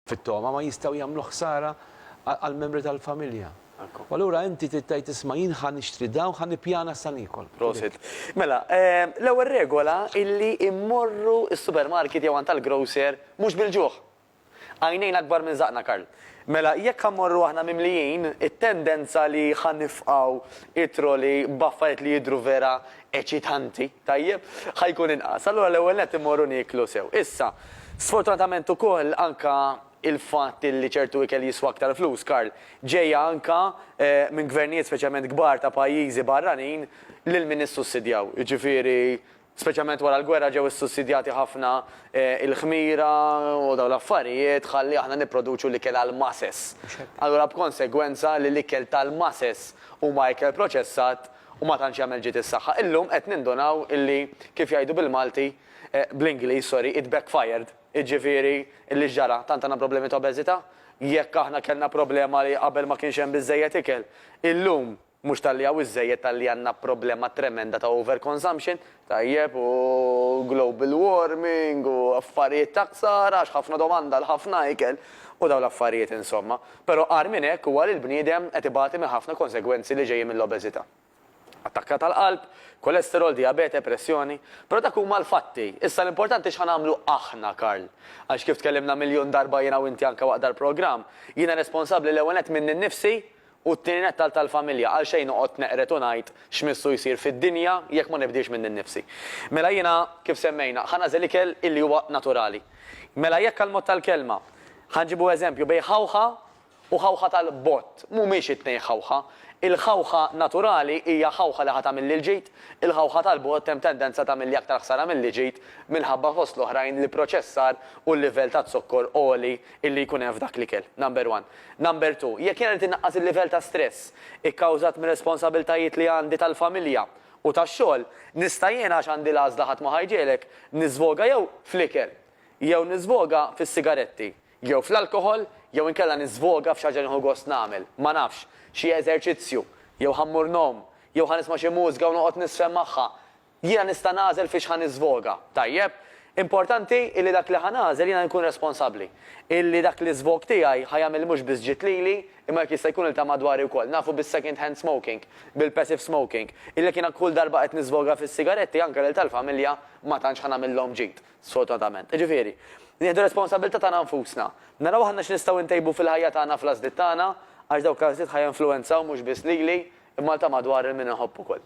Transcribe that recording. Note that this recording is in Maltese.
fit-togħma ma jistgħu jagħmlu ħsara għall-membri tal-familja. U allura inti trid tgħid isma' jien ħa nixtri dawn u ħa nippjana sa niekol. Prosit. Mela, l-ewwel regola hi li mmorru s-supermarket jew għand tal-grocer mhux bil-ġuħ. Għajnejna akbar minn żaqqna Karl. Mela, jekk ħa mmorru aħna mimlijin, it-tendenza li ħa nifqgħu t-trolley b'affarijiet li jidhru vera eċitanti. Tajjeb, ħa jkun inqas. Allura l-ewwel nett immorru nieklu sew. Issa, sfortunatament ukoll anka il-fatt illi ċertu ikel jiswa aktar flus, Karl, ġejja anka minn gvernijiet speċjalment kbar ta' pajjiżi barranin lil min issussidjaw. Jiġifieri speċjalment wara l-gwerra ġew issussidjati ħafna il-ħmira u dawn l-affarijiet ħalli aħna nipproduċu l-ikel għall-masses. Allura b'konsegwenza li l-ikel tal-masses huma ikel proċessat, u ma tantx jagħmel ġid is-saħħa. Illum qed nindunaw illi, kif jgħidu bil-Malti, bl-Ingliż, sorry, it backfired. Jiġifieri, illi x'ġara? Tant għandna problemi ta' obeżità? Jekk aħna kellna problema li qabel ma kienx hemm biżżejjed ikel, illum mhux talli hawn iżżejjed talli għandna problema tremenda ta' overconsumption, Tajjeb, u global warming u affarijiet ta' ksara għax ħafna domanda għal ħafna ikel u dawn l-affarijiet insomma. Però agħar minn hekk huwa li l-bniedem qed ibati minn ħafna konsegwenzi li ġejjin mill-obeżità. Attakka tal-qalb, kolesterol, dijabete, pressjoni. Però dak huma l-fatti. Issa l-importanti x'ħa nagħmlu aħna, Karl. Għax kif tkellimna miljun darba jiena u inti anke waqt dal-programm, jiena responsabbli l-ewwel nett minni nnifsi U t-tieni nett għal tal-familja, għalxejn noqgħod neqred u ngħid x'missu jsir fid-dinja jekk ma nibdilx minni nnifsi. Mela jiena, kif semmejna, ħa nagħżel ikel illi huwa naturali. Mela jekk għall-mod tal-kelma, ħa nġibu eżempju bejn ħawħa u ħawħa tal-bott, mhumiex it-tnejn ħawħa. Il-ħawħa naturali hija ħawħa li ħa tagħmilli l-ġid, il-ħawħa tal-bott hemm tendenza tagħmilli aktar ħsara milli ġid minħabba fost l-oħrajn l-ipproċessar u l-livell taz-zokkor għoli illi jkun hemm f'dak l-ikel, number one. Number two, jekk jiena rrid innaqqas il-livell ta' stress ikkawżat mir-responsabbiltajiet li għandi tal-familja u tax-xogħol, nista' jiena għax għandi l-għażla ħadd ma ħa jġegħlek, niżvoga jew fl-ikel, jew niżvoga fis-sigaretti, jew fl-alkoħol, jew inkella niżvoga f'xi ħaġa li nieħu gost nagħmel, ma nafx, xi eżerċizzju, jew ħa mmur ngħum, jew ħa nisma' xi mużika u noqgħod niżfen magħha, Jiena nista' nagħżel fiex ħa niżvoga, tajjeb? Importanti illi dak li ħa nagħżel jiena nkun responsabbli. Illi dak l-iżvog tiegħi ħa jagħmel mhux biss ġid lili, imma jekk jista' jkun lil ta' madwari wkoll. Nafu bis-second hand smoking, bil-passive smoking, illi jekk jiena kull darba qed niżvoga fis-sigaretti anke lil tal-familja ma tantx ħa nagħmillhom ġid, sfortunatament. Jiġifieri, nieħdu r-responsabbiltà tagħna nfusna. Naraw aħna x'nistgħu ntejbu fil-ħajja tagħna fl-għażliet tagħna, għax dawk l-għażliet ħa jinfluwenzaw mhux biss lili, imma lil ta' madwar lil min inħobb ukoll.